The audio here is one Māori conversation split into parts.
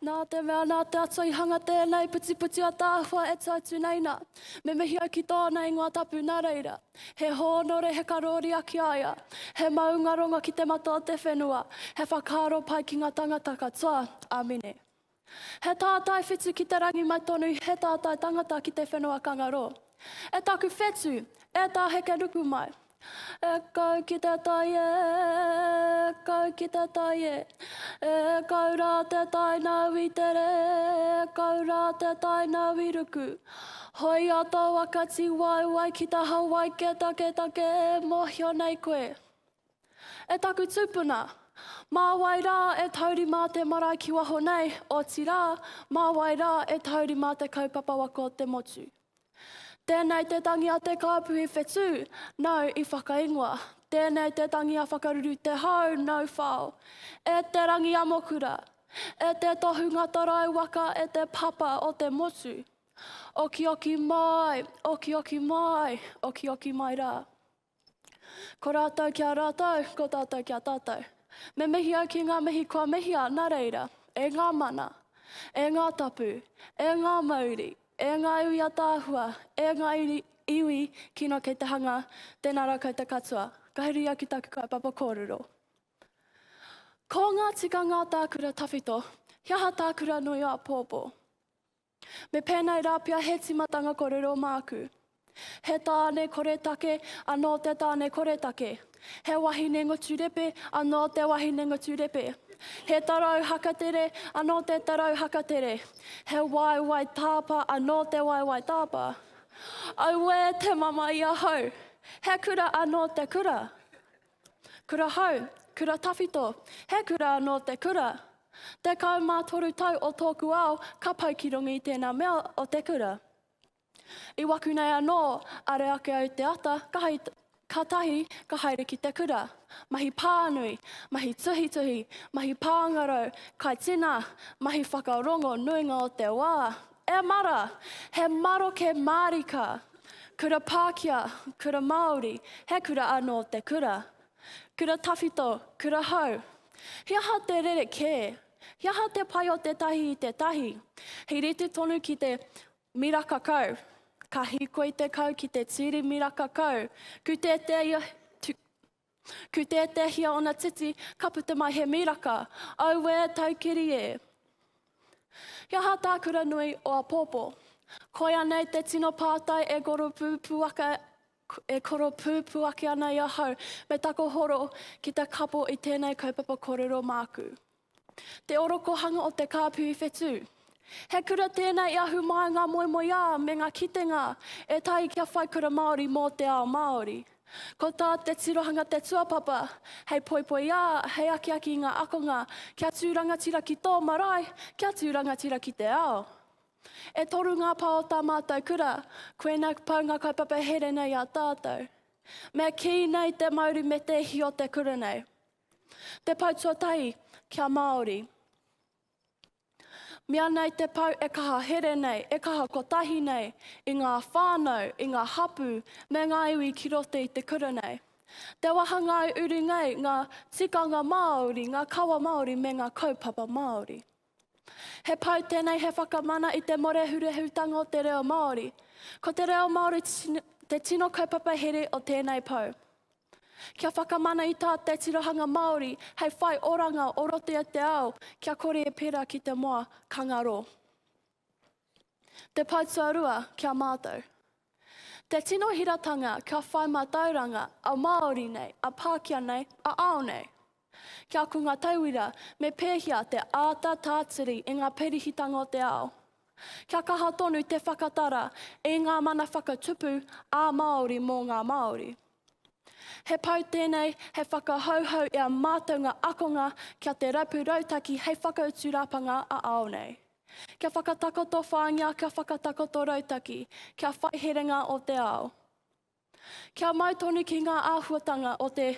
Nā te mea, nā te Atua i hanga tēnei putiputi ataahua e tuatu nei nā. Me mihi au ki tōna ingoa tapu nā reira. He hōnore, he karōria ki a ia. He maungarongo ki te mata o te whenua. He whakaaro pai ki ngā tangata katoa. Āmine. He tātai whitu ki te rangi mai tonu he tātai tangata ki te whenua kangaroo. E taku whetu, e tā heke nuku mai. E kau ki te tai e, e kau ki te tai e. E kau rā te tai nāu i tere, e kau rā te tai nāu i ruku. Hoi a tō aka tiwaiwai ki te hawaike taketake e mōhio nei koe. E taku tupuna, mā wai rā e taurima te marae ki waho nei, otirā, mā wai rā e taurima te kaupapa waka o te motu. Tēnei te tangi a te kāpuhi whetū, nau i whakaingoa. Tēnei te tangi a Whakaruru Te Hau, nau whao. E te rangi amokura! E te tohunga tarau waka e te papa o te motu! Okioki māi, okioki māi, okioki mai rā. Ko rātou ki a rātou, ko tātou ki a tātou. Me mihi au ki ngā mihi kua mihia, nā reira, e ngā mana, e ngā tapu, e ngā mauri, e ngā iwi ataahua, e ngā iri, iwi kino kei te hanga, tēnā rā koutou katoa, ka huri au ki taku kaupapa kōrero. Ko ngā tikanga tā kura tawhito, he aha tā kura nui o apōpō? Me pēnei rā pea he tīmatanga kōrero māku. He tāne koretake anō te tāne koretake. He wahine ngoturepe anō te wahine ngoturepe. He tarau hakatere anō te tarau hakatere. He waewae tāpa anō te waewae tāpa. Auē te mama i ahau! He kura anō te kura. Kura hou, kura tawhito, he kura anō te kura. Tekau mā toru tau o tōku ao ka pau ki runga i tēnā mea o te kura. I waku nei anō, are ake au te ata, ka hai, ka tahi ka haere ki te kura. Mahi pānui, mahi tuhituhi, mahi pāngarau, kai tina, mahi whakarongo nuinga o te wā, E mara! He maroke mārika! Kura Pākia, Kura Māori, he kura anō te kura. Kura tawhito, kura hou. He aha te rerekē? He aha te pai o tētahi i tētahi? He rite tonu ki te miraka kau. Ka hīkoi te kau ki te tīri miraka kau. Kūtētēia, Ku tētēhia ona titi, ka puta mai he miraka. Auē, taukiri e! He aha tā Kuranui o Apopo? Koia nei te tino pātai e koropūpuaka e koropūpu ake ana i ahau, me takohoro ki te kapo i tēnei kaupapa korero māku. Te orokohanga o te kāpui whetū. He kura tēnei i ahu māia ngā moemoeā me ngā kitenga e tahi kia whai kura Māori mō te ao Māori. Ko tā te tirohanga te tuapapa hei poipoiā, hei akiaki i ngā akonga kia tū rangatira ki tō marae, kia tū rangatira ki te ao. E toru ngā pā o tā mātou kura, koinā pau ngā kaupapa here nei i a tātou. Mea kī nei te mauri me te ihi o te kura nei. Te Pou Tuatahi kia Māori. Mea nei te pou e kaha here nei, e kaha kotahi nei i ngā whānau, i ngā hapū me ngā iwi ki roto i te kura nei. Te wahangā i uru nei ngā tikanga Māori, ngā kawa Māori me ngā kaupapa Māori. He pau tēnei he whakamana i te morehurehutanga o te reo Māori. Ko te reo Māori te tino kaupapa here o tēnei pau. Kia whakamana i tā te tirohanga Māori hei whai oranga o roto i te ao kia kore e pērā ki te moa, ka ngaro. Te Pai Tuarua ki a mātou. Te tino hiratanga kia whai mātauranga a Māori nei, a Pākia nei, a ao nei. Kia ko ngā tauira me pēhia te āta tātiri i ngā pirihitanga o te ao. Kia kaha tonu te whakatara i ngā mana whakatupu ā Māori mō ngā Māori. He pau tēnei hei whakahouhou i a mātou ngā akonga kia te rapu rautaki hei whakautu rapanga a ao nei. Kia whakatakoto whāngia, kia whakatakoto rautaki, kia whai herenga o te ao. Kia mau tonu ki ngā āhuatanga o te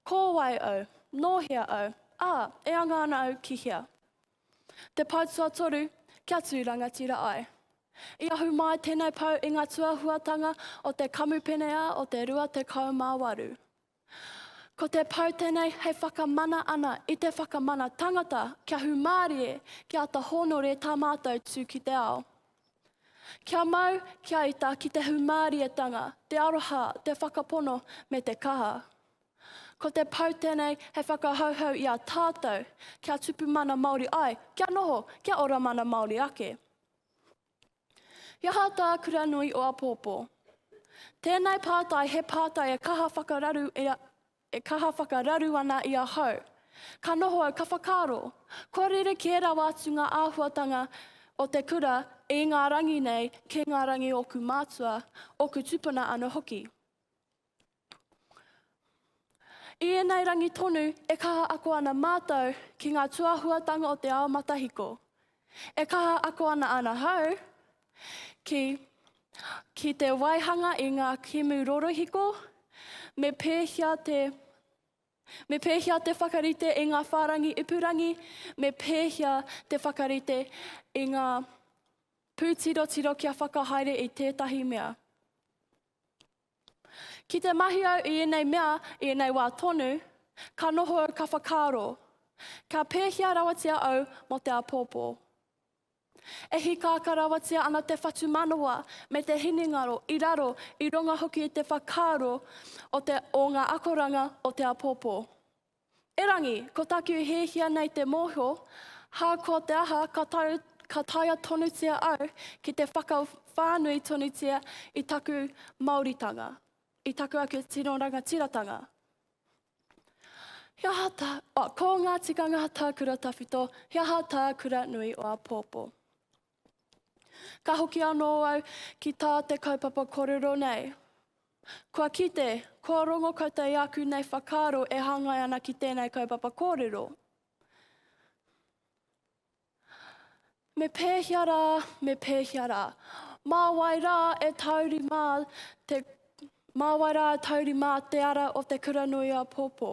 Ko wai au? Nō hea au? Ā, e anga ana au ki hea? Te Pou Tuatoru, Kia tū rangatira ai. I ahu māi tēnei pou i ngā tuahuatanga o te Kamupene-ā o te 28. Ko te pou tenei hei whakamana ana i te whakamana tangata kia humārie, kia ata hōnore tā mātou tū ki te ao. Kia mau, kia ita ki te humārietanga, te aroha, te whakapono me te kaha. Ko te pou tenei hei whakahauhau i a tātou kia tupu mana Māori ai, kia noho, kia ora mana Māori ake. He aha tā Kuranui o Apōpō? Tēnei pātai he pātai e kaha whakararu e, e kaha whakararu ana i ahau. Ka noho au ka whakaaro, kua rerekē rawa atu ngā āhuatanga o te kura i ngā rangi nei kē ngā rangi ōku mātua, ōku tupuna anō hoki. I ēnei rangi tonu e kaha ako ana mātou ki ngā tuahuatanga o te ao matahiko. E kaha ako ana ana hau ki, ki te waihanga i ngā kemu rorohiko, me pēhia te Me pēhia te whakarite i ngā whārangi ipurangi, me pēhia te whakarite i ngā pūtirotiro kia whakahaere i tētahi mea. Ki te mahi au i ēnei mea i ēnei wā tonu, ka noho au ka whakaaro, Kia pēhea rawatia au mō te apōpō? E hikaaka rawatia ana te whatumanawa me te hinengaro i raro, i runga hoki i te whakaaro o te o ngā akoranga o te apōpō. Erangi, ko taku hiahia nei te mōhio, ha ko te aha ka tau ka taea tonutia au ki te whakawhānui tonutia i taku Māoritanga, i taku ake tino rangatiratanga. He aha tā, oh, ko ngā tikanga tā Kura Tawhito, he aha tā Kura Nui o Apōpō. Ka hoki anō au ki tā te kaupapa kōrero nei. Kua kite, kua rongo koutou i āku nei whakaaro e hāngai ana ki tēnei kaupapa kōrero. Me pēhea rā, me pēhea rā. Mā wai rā e tauri mā te, mā wai rā e tauri mā te ara o te kura nui a Pōpō.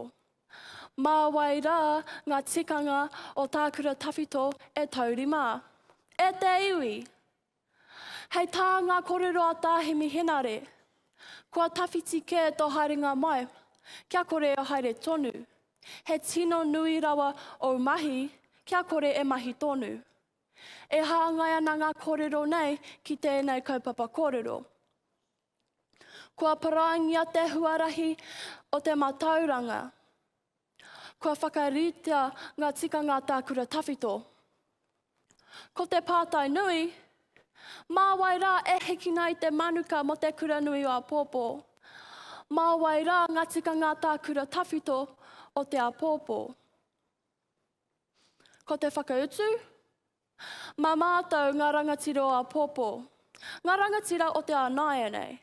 Mā wai rā ngā tikanga o tā kura tawhito e taurima? E te iwi! Hei tā ngā korero a Tā Hemi Henare, Kua tawhiti kē tō haerenga mai, kia kore e haere tonu. He tino nui rawa ou mahi, kia kore e mahi tonu. E hāngai ana ngā korero nei ki tēnei kaupapa kōrero. Kua parāngia te huarahi o te matauranga. Kua whakaritea ngā tikanga tākura tawhito. Ko te pātai nui, mā wai rā e hikina i te manuka mō te kura nui o Apōpō? Mā wai rā ngā tikanga tākura tawhito o te Apōpō? Ko te whakautu, Mā mātou ngā rangatira o āpōpō, ngā rangatira o te ao nāianei.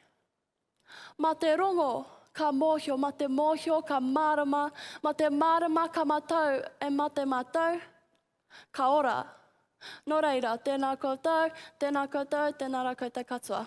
Mā te rongo ka mōhio, mā te mōhio ka mārama, mā te mārama ka matau e mā te matau ka ora. Nō reira, tēnā koutou, tēnā koutou, tēnā rā koutou katoa.